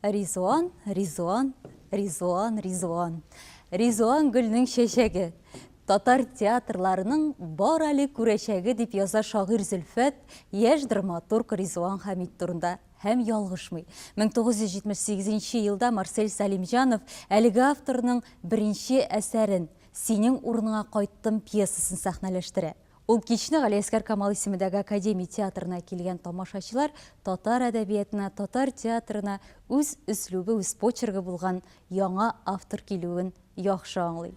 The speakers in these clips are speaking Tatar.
Ризуан, Ризуан, Ризуан, Ризуан. Ризуан гөлнең чәчәге. Татар театрларының бар әле күрәчәге дип яза шагыйрь Зөлфәт яшь драматург Ризуан Хәмид турында һәм ялгышмый. 1978 елда Марсель Салимҗанов әлеге авторның беренче әсәрен Синең урыныңа кайттым пьесасын сәхнәләштерә. Ул кичне Галиәсгар Камал исемендәге Академия театрына килгән тамашачылар татар әдәбиятына, татар театрына үз өслүбе, үз почергы булган яңа автор килүен яхшы аңлый.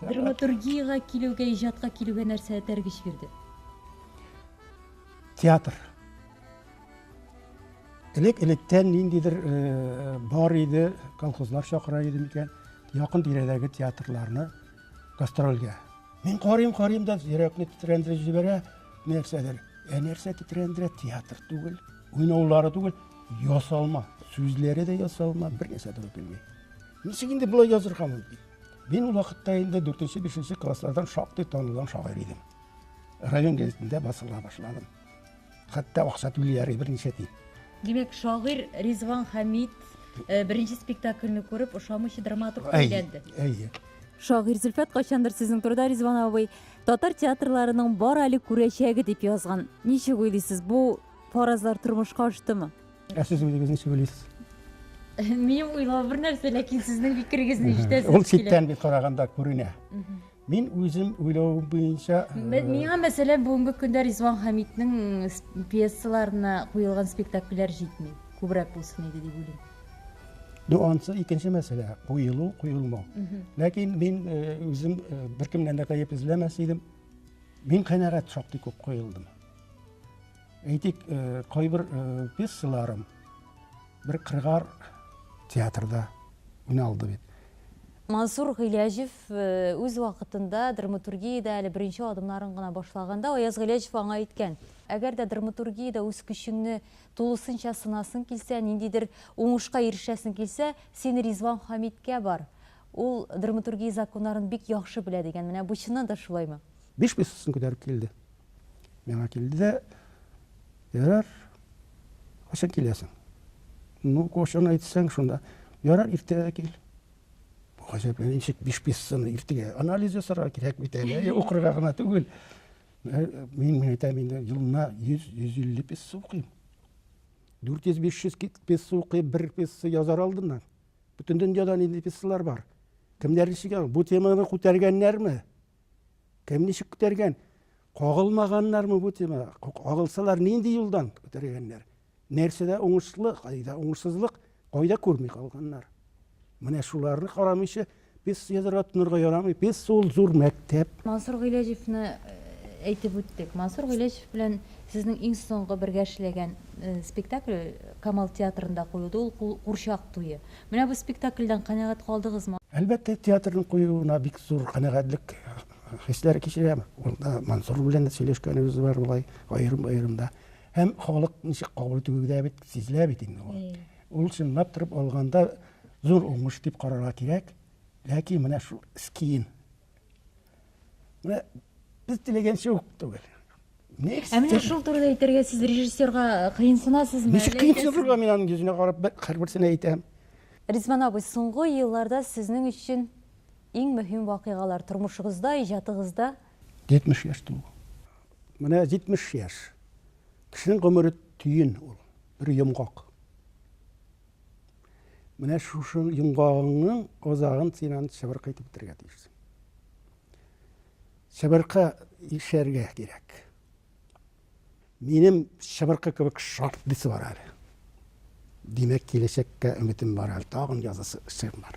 Драматургиягә килүгә, иҗатка килүгә нәрсә этәргеч бирде? Театр. Элек-электән ниндидер э, бар иде, колхозлар чакыра иде микән, якын тирәдәге театрларны гастрольгә. Мин карыйм, карыйм да йөрәкне тетрәндереп җибәрә, нәрсәдер. Ә нәрсә тетрәндерә? Театр түгел, уйнаулары түгел, ясалма. Сүзләре дә ясалма, бер нәрсә дә белми. Ничек инде болай язырга мөмкин? Мин ул вакытта инде 4-5 класслардан шактый танылган шагыйрь идем. Район газетында басыла башладым. Хәтта акча түлиләр берничә тиен. Димәк, шагыйрь Ризван Хәмит э, беренче спектакльне күреп ошамыйча драматург әйләнде. Әйе. Шагыйрь Зөлфәт кайчандыр сезнең турыда Ризван абый татар театрларының бар әле күрәчәге дип язган. Ничек уйлыйсыз, бу фаразлар тормышка аштымы? Ә сез үзегез ничек уйлыйсыз? Минем уйлау бер нәрсә, ләкин сезнең фикерегезне ишетәсез килә. Ул читтән бит караганда күренә. Мин үзем уйлау буенча Миңа мәсәлән бүгенге көндә Ризван Хамитның пьесаларына куелган спектакльләр җитми. Күбрәк булсын иде дип уйлыйм. Ну, ансы икенче мәсьәлә, куелу, куелмау. Ләкин мин үзем беркемнән дә гаеп эзләмәс идем. Мин канәгать шактый күп куелдым. Әйтик, э, кайбер э, пьесаларым бер кыргар театрда уйналды бит. Мансур Гыйләҗев э, үз вакытында драматургиядә әле беренче адымнарын гына башлаганда Аяз Гыйләҗев аңа әйткән. Әгәр дә драматургиядә үз көчеңне тулысынча сынасың килсә, ниндидер уңышка ирешәсең килсә, син Ризван Хамиткә бар. Ул драматургия законнарын бик яхшы белә дигән. Менә бу чыннан да шулаймы? Биш пьесасын күтәреп килде. Миңа килде дә, ярар, кайчан киләсең? Ну, кайчан әйтсәң, шунда. Ярар, иртәгә кил. Гаҗәпләнеп, ничек биш пьесаны иртәгә анализ ясарга кирәк бит әле, укырга гына түгел. Э, мин әйтәм инде, елына 100-150 пьеса укыйм. 400-500 пьеса укыйм, бер пьеса язар алдыннан. Бөтен дөньяда нинди пьесалар бар. Кемнәр ничек, бу теманы күтәргәннәрме? Кем ничек күтәргән? Кагылмаганнармы бу тема? Кагылсалар нинди юлдан күтәргәннәр? Нәрсәдә уңышлы, кайда уңышсызлык, кайда күрми калганнар? Менә шуларны карамыйча без язырга тонырга ярамый. Без сул зур мәктәп. Мансур Гыйләҗевны э, әйтеп үттек. Мансур Гыйләҗев белән сезнең иң соңгы бергә эшләгән э, спектакль Камал театрында куелды. Ул курчак туе. Менә бу спектакльдән канәгать калдыгызмы? Әлбәттә, театрның куюына бик зур канәгатьлек хисләре кичерәм. Ул да Мансур белән дә сөйләшкәнебез бар болай, аерым-аерым да. Һәм халык ничек кабул итүе дә бит сизелә бит инде ул. Ул чынлап торып алганда зур уңыш дип карарга кирәк. Ләкин менә шул скин Менә без теләгәнчә үк түгел. Ә менә шул турыда әйтергә сез режиссерга э, кыенсынасызмы? Ничек кыенсынырга мин аның йөзенә карап һәрберсен әйтәм. Ризван абый, соңгы елларда сезнең өчен иң мөһим вакыйгалар тормышыгызда, иҗатыгызда? 70 яшь тулу. Менә 70 яшь. Кешенең гомере төен ул, бер йомгак. Менә шушы йомгагыңның азагын син аны чыбыркы итеп бетерергә тиешсең. Чыбыркы ишәргә кирәк. Минем чыбыркы кебек шарт дисе бар әле. Димәк, киләчәккә өметем бар әле. Тагын язасы эшем бар.